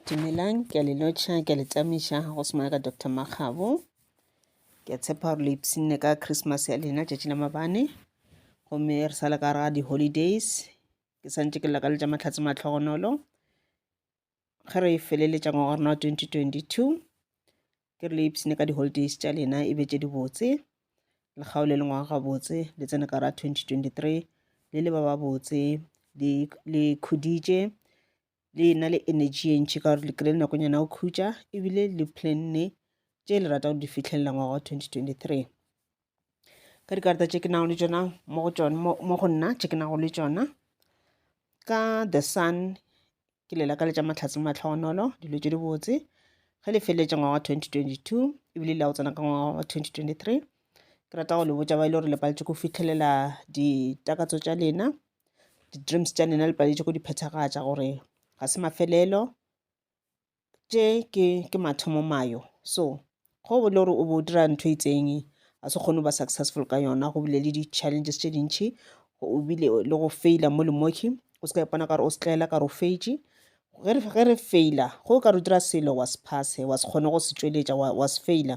Dumelang, ke a le lotšha, ke a le tšamiša go semana ka Dr. Makgabo. Ke a tshepa gore le ipshinne ka Christmas ya lena tšatši la mabane. Gomme re sa le ka ra di-holidays, ke santše ke lakaletša mahlatse matlhogonolo. Ge re feleletša ngwaga rena wa 2022, ke re le ipshine ka di-holidays tša lena e be tše dibotse le kgaole le ngwaga gabotse le tsene ka ra 2023 le le ba babotse le khuditše le na le energy e ntšhi ka gore le kry-e nakonyana o khutša ebile le planne tše le rata go di fitlhelela ngwaga wa 2023 ka dikarata tše ke nago le tšona mo go tšona mo go nna tše ke nago le tšona ka the sun ke lela ka letša matlhatse le matlhogonolo dilo tše di botse ge le feleletša ngwaga wa 2022 ebile le ya go tsena ka ngwaga wa 2023 ke rata go le botša ba e le gore le paletše go fitlhelela ditakatso tša lena di-dreams tša lena le paletše go di phethagatša gore ga se mafelelo tše ke ke mathomo mayo so go bo le gore o bo o dira ntho e itseng a se kgone go ba successful ka yona go bile le di-challenges tše dintšhi o bile le go faila mo le moki o se ka ipona ka gore o setlaela ka gore o feitše ge re faila go ka re dira selo wa se phase wa se kgone go se tšweletša wa se faila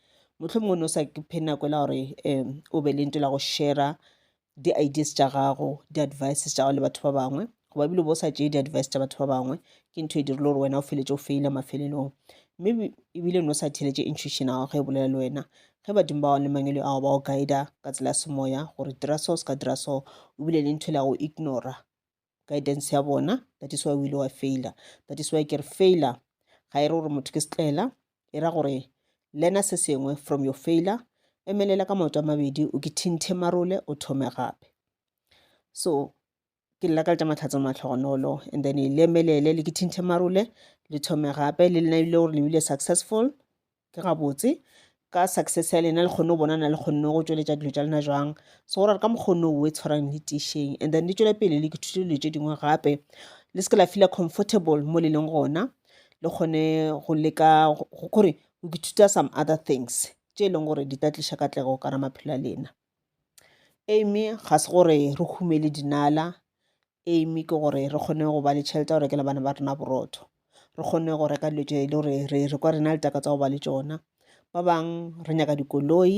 mohlomongwe no sa ke phe nako e la gore um o be le nto la go shera di-ideas tša gago di-advices tša gago le batho ba bangwe goba ebile o bo sa tšee di-advice tša batho ba bangwe ke ntho e dirile gore wena o feletse o feile mafelelong mme ebile no sa theletše intuition ya gago ge e bolela le wena ge badimo ba gago le mangwele ao ba go guida ka tsela ya semoya gore dira so se ka dira so o bile le ntho e le ya go ignora guidance ya bona that is why o ile wa faila that is why ke re faila ga e re gore motho ke setlaela e ra gore lena se sengwe from your faila emelela ka maoto a mabedi o ke thinthe marole o thome gape so ke lela ka letša matlhatso matlhogonolo and then e lemelele le ke thinthe marole le thome gape le lena ebile gore lebile successful Ke gabotse, ka success ya lena le kgonne go bona na le kgonne go tšweletša dilo tša lena jwang. So go ra re ka mokgwa o no o e tshwarang le tiišeng and then le tšwele pele le ke thutile dilo tše dingwe gape. Le seke la feel comfortable mo le leng gona le kgone go leka gore o ke thuta some other things tše e leng gore di tla tliša katlego ka ra maphelo a lena. Amy ga se gore re humele dinala aim ke gore re kgone go ba le tšhelete ya go rekela bana ba rena borotho, re kgone go reka dilo tše e le gore re kwa re na le takatso ya go ba le tšona. Ba bang re nyaka dikoloi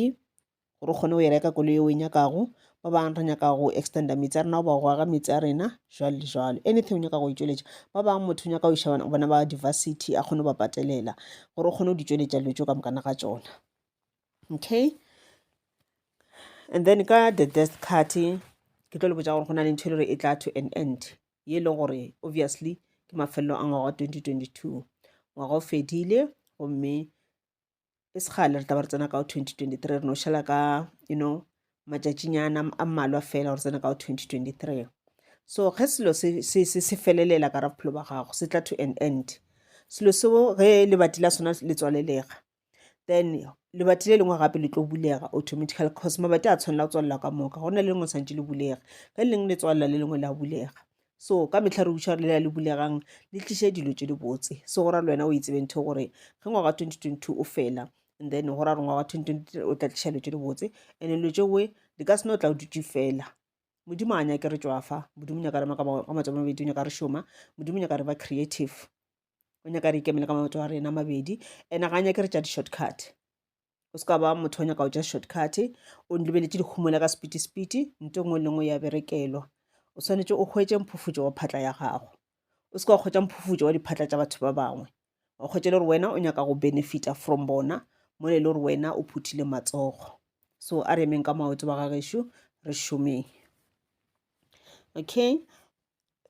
gore re kgone go e reka koloi e o e nyakago, ba bang re nyaka go extender meetse a rena goba go aga meetse a rena jwalo le jwalo. Anything o nyaka go e tšweletša, ba bang motho o nyaka go iša bana ba university a kgone go ba patelela gore o kgone go di tšweletša dilo tšeo ka moka ga tšona. okay and then ka the death card ke tlo le botsa gore go na le ntho e le gore e tla to an end ye e leng gore obviously ke mafelelo a ngwaga wa 2022 ngwaga o fedile gomme e segale re taba re tsena ka 2023 re no šala ka you know matšatšinyana a mmalwa fela gore tsena ka 2023 so ge selo se felelela ka ra bophelo ba gago se tla to an end selo seo ge lebati la sona le tswalelega then lebati le lengwe gape le tlo bulega automatical cause mabati a tshwanela go tswalela ka moka go na le lengwe tshwanetse le bulega ka le lengwe le tswalela le lengwe la bulega so ka metlha re uša re lela le bulegang le tliše dilo tše dibotse so go ra le wena o itsebe ntho gore ge ngwaga 2022 o fela and then go ra re ngwaga 2023 o tla tliša dilo tše dibotse and dilo tšeoe di ka sena o tla o dutše fela modimo a nyake re tšwafa modimo nyaka rema ka matso a mabedi o nyaka re šoma modimo nyaka re ba creative o nyaka re ikemele ka maoto a rena mabedi ene ga a nyake re tša di-short cut o se ka ba motho o nyaka go tša short cut o lebeletše dikhumola ka sepiti sepiti nto e nngwe le nngwe ya berekelwa o swanetše o hwetše mphufutšo wa phatla ya gago o se ka wa kgwetša mphufutšo wa diphatla tša batho ba bangwe wa kgwetša le gore wena o nyaka go benefita from bona mo le le gore wena o phuthile matsogo so a re emeng ka maoto ba gagešu re šomeng okay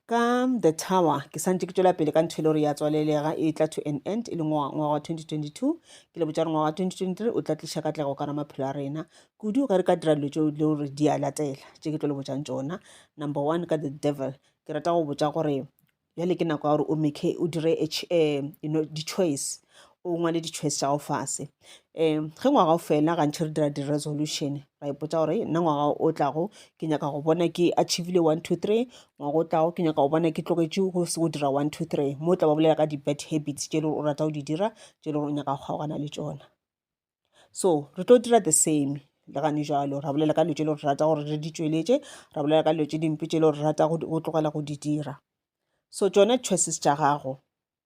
Ka The Tower ke santše ke tšwela pele ka ntho e le gore ya tswalelega e tla to an end e le ngwaga wa 2022 ke le botša re ngwaga wa 2023 o tla tliša katlego ka ra maphelo a rena kudu ge re ka dira dilo tšeo le gore di a latela tše ke tlo le botšang tšona number one ka the devil ke rata go botša gore bjale ke nako ya gore o make o dire um you know di-choice o ngwale di-choice tša go fase um ge ngwaga o fela gantšhe re dira di-resolution ra ipotsa gore nna ngwaga o tlago ke nyaka go bona ke achievile one two three ngwaga o tlago ke nyaka go bona ke tlogetše go se go dira one two three mo o tla ba bolela ka di-bad habits tše e le gore o rata go di dira tše e le gore o nyaka go kgaogana le tsona so re tlo dira the same le gane jalo ra bolela ka dilo tše e le gore re rata gore re di tšweletše ra bolela ka dilo tše dimpe tše e le gore re rata go tlogela go di dira so tšone choices tša gago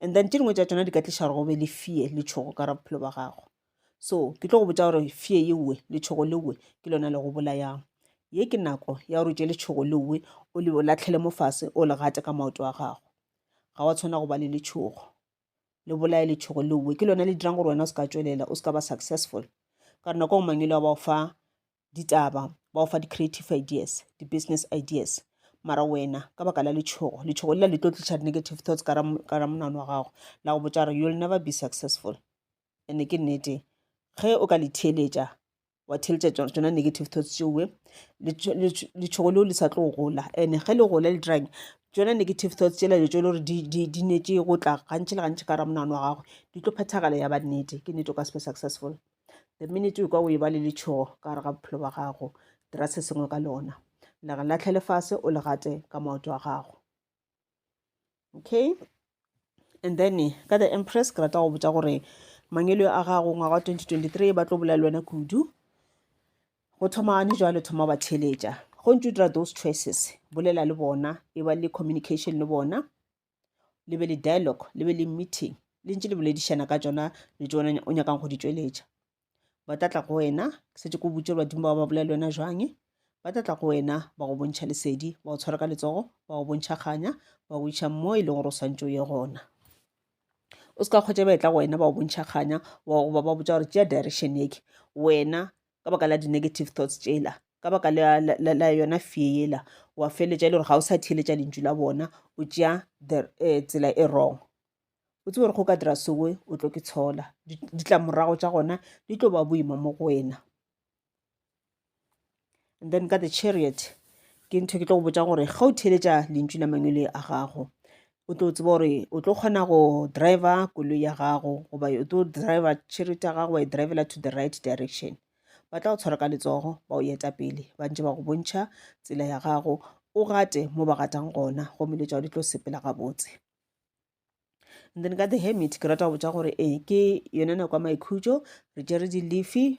and then tše dingwe tša tšona di ka tliša gore go be le fear le tšhogo ka ra bophelo ba gago so ke tlo go botsa gore fear ye uwe le tšhogo le uwe ke lona le go bolayang ye ke nako ya gore tše le tšhogo le uwe o le latlhele mo fase o le gate ka maoto a gago ga wa tshwana go ba le letšhogo le bolaye letšhogo le uwe ke lona le dirang gore wena o se ka tswelela o se ka ba successful ka re nako go mangwele wa ba o fa ditaba ba go fa di-creative ideas di-business ideas mara wena ka baka la letšhogo letšhogo lela le tlo tliša di-negative thoughts ka ramonano wa gago la go botša gore you'll never be successful ande ke nnete ge o ka le theeletša wa theeletša tsona negative thoughts tšeoe letšhogo leo le sa tlo gola and ge le gola le dirang tsona negative thoughts tšela le tšo le gore di netse go tla gantši le gantši ka ramonano wa gago di tlo phethagala ya ba nnete ke nnete o ka se be successful the minute o ka o e ba le letšhogo ka gare ga bophelo ba gago dira se sengwe ka lona le re latlhe lefase o le gate ka maoto a gago okay and then ka the empress ke rata go botsa gore mangelo a gago ngwaga wa 2023 ba tlo bolela le wena kudu go thoma gane jwale thoma ba theletša go ntse o dira those choices bolela le bona e ba le communication le bona le be le dialogue le be le meeting le ntse le boledišana ka tsona le tsona o nyakang go di tšweletša ba tla tla go wena ke setse ko botse badimo ba ba bolela le wena jwang ba tla tla go wena ba go bontšha lesedi ba go tshwara ka letsogo ba go bontšha kganya ba go iša mo e leng gore o swantse o ye gona o se ka kgwetsa ba e tla go wena ba go bontšha kganya wa go ba ba botsa gore tšea direction eke wena ka baka la di-negative thoughts tšela ka baka la, la, la, la yona fear yela wa feletša e le gore ga o sa theeletša lentšu la bona o tšea the uh, tsela e wrong o tsebe gore go ka dira soe o tlo ke tshola ditlamorago tša gona di tlo ba boima mo go wena and then ka the chariot ke ntho ke tlo go botsa gore ga o theeletša lentšu la mangwele a gago o tlo tseba gore o tlo kgona go driver koloi ya gago goba o tlo driver charity ya gago wa e drivela to the right direction ba tla go tshwara ka letsogo ba o eta pele ba ntse ba go bontšha tsela ya gago o gate mo ba gatang gona gomme le tšao di tlo sepela gabotse and then ka the hermit ke rata go botsa gore ee ke yone nako ya maikhutšo re tšere di-leafy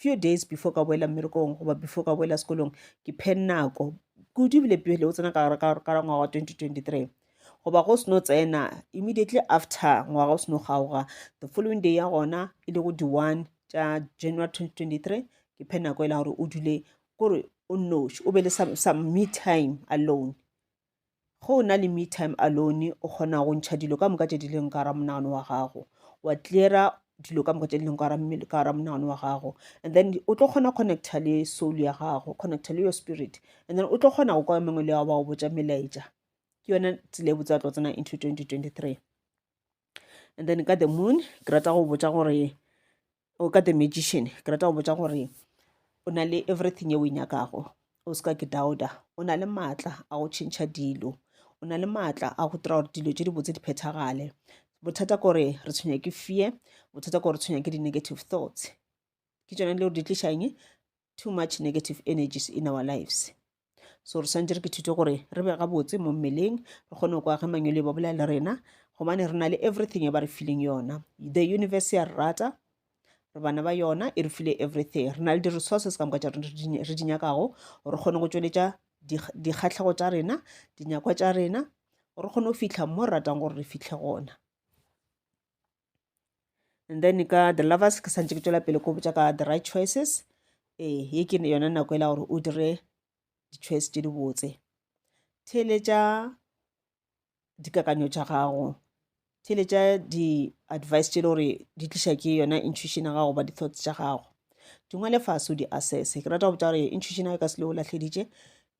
Few days before ka boela mmerekong goba before ka boela sekolong, ke phe nako kudu ebile pele o tsena ka gare ka ra ngwaga wa 2023 goba go seno tsena immediately after ngwaga o seno kgaoga the following day ya gona e le go di-one tša january 2023 ke phe nako e la gore o dule kore o noši o be le some, some me time alone Ge o na le me time alone, o kgona go ntšha dilo ka moka tše di leng ka gara monagano wa gago, wa cleara dilo ka moka tše di leng ka gara monagano wa gago, and then o tlo kgona connecta le soul ya gago, connecta le your spirit, and then o tlo kgona go kwa mengwe le ao ba go botša melaetša. Ke yone tsela e botse ya tlo tsena into 2023. And then ka the moon ke rata go botša gore o ka the magician ke rata go botsa gore o na le everything e o e nyakago o se ka ke doubta o na le maatla a go tšhentšha dilo o na le maatla a go dira gore dilo tse dibotse di phethagale bothata kore re tshwenya ke fear bothata kore re tshwenya ke di-negative thoughts ke tsone le gore di tliša eng too much negative energies in our lives so re swantse re ke thute gore re be gabotse mo mmeleng re kgone go kwa ge mangwele ba bolela le rena gobane re na le everything e ba re fileng yona the universe ya re rata re bana ba yona e re file everything re na le di-resources ka moka tša rena re di nyakago gore re kgone go tšweletša dikgatlhego tša rena dinyakwa tša rena gore re kgone go fitlha mo re ratang gore re fitlhe gona and then ka the lovers ke santse ke tswela pele ko botsa ka the right choices ee ye ke yona nako e la gore o dire di-choice tse di botse theletša dikakanyo tša gago theletša di-advice tše le gore di tliša ke yona intuition ya gago ba di-thoughts tša gago dingwe le fase o di-assess ke rata go botsa gore intuition ya ka se le o lahleditše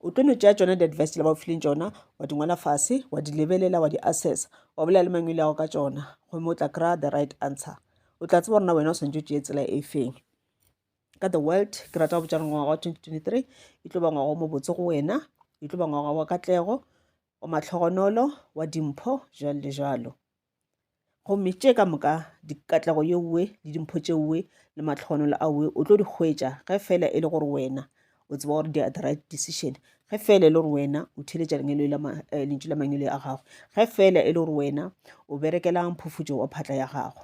o tlo no tšea tšona di-advice le ba o fileng tšona wa di ngwala fase wa di lebelela wa di assessa wa bolela le mangwele yago ka tšona gomme o tla kry-a the right answer o tla tseba gorena wena o swantse o tšee tsela e feng ka the world ke rata go botšana ngwaga wa 2023 e tlo ba ngwaga o mobotse go wena e tlo ba ngwaga wa katlego wa matlhogonolo wa dimpho jalo le jalo Gomme tše ka moka, dikatlego yeoe le dimpho tšeoe le matlhogonolo aoe o tlo di hwetša ge feela e le gore wena o tseba gore di are the right decision ge feela e le gore wena o theletša eh, lentšu la mangelo a gago ge feela e le gore wena o berekela mphufutšo wa phatla ya gago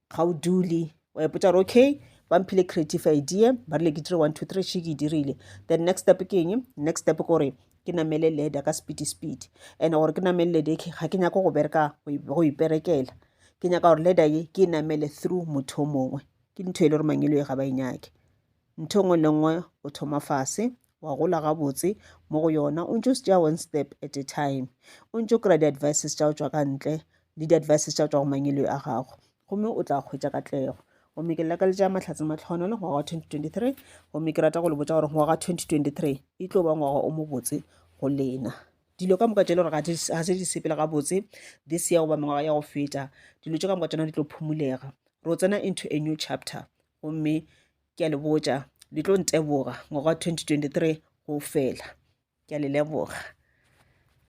ga o dule wa ipotsa gore okay ba mphile creative idea ba rile ke dire one two three sheke e dirile then next step ke eng next step gore ke namele leda ka speedy speedy and gore ke namele leda ke ga ke nyako go bereka go iperekela ke nyaka gore leda ye ke e namele through motho o mongwe ke ntho e le gore mangelo e ga ba e nyake ntho e nngwe le nngwe o thoma fase wa gola gabotse mo go yona o ntšo stša one step at a time o ntšo kry-a di-advices tša go tšwa ka ntle le di-advices tša go tšwa go mangelo a gago gomme o tla kgwetša katlego gomme ke laka le tša mahlatse matlhono le ngwaga wa 2023 gomme ke rata go le botša gore ngwaga wa 2023 e tlo ba ngwaga o mobotse go lena dilo ka moka tšele gore ga se di sepele gabotse this year goba mengwaga ya go feta dilo tše ka moka tsona di tlo phomulega ro tsena into a new chapter gomme ke a le botša le tlo nteboga ngwaga wa 2023 go fela ke a le leboga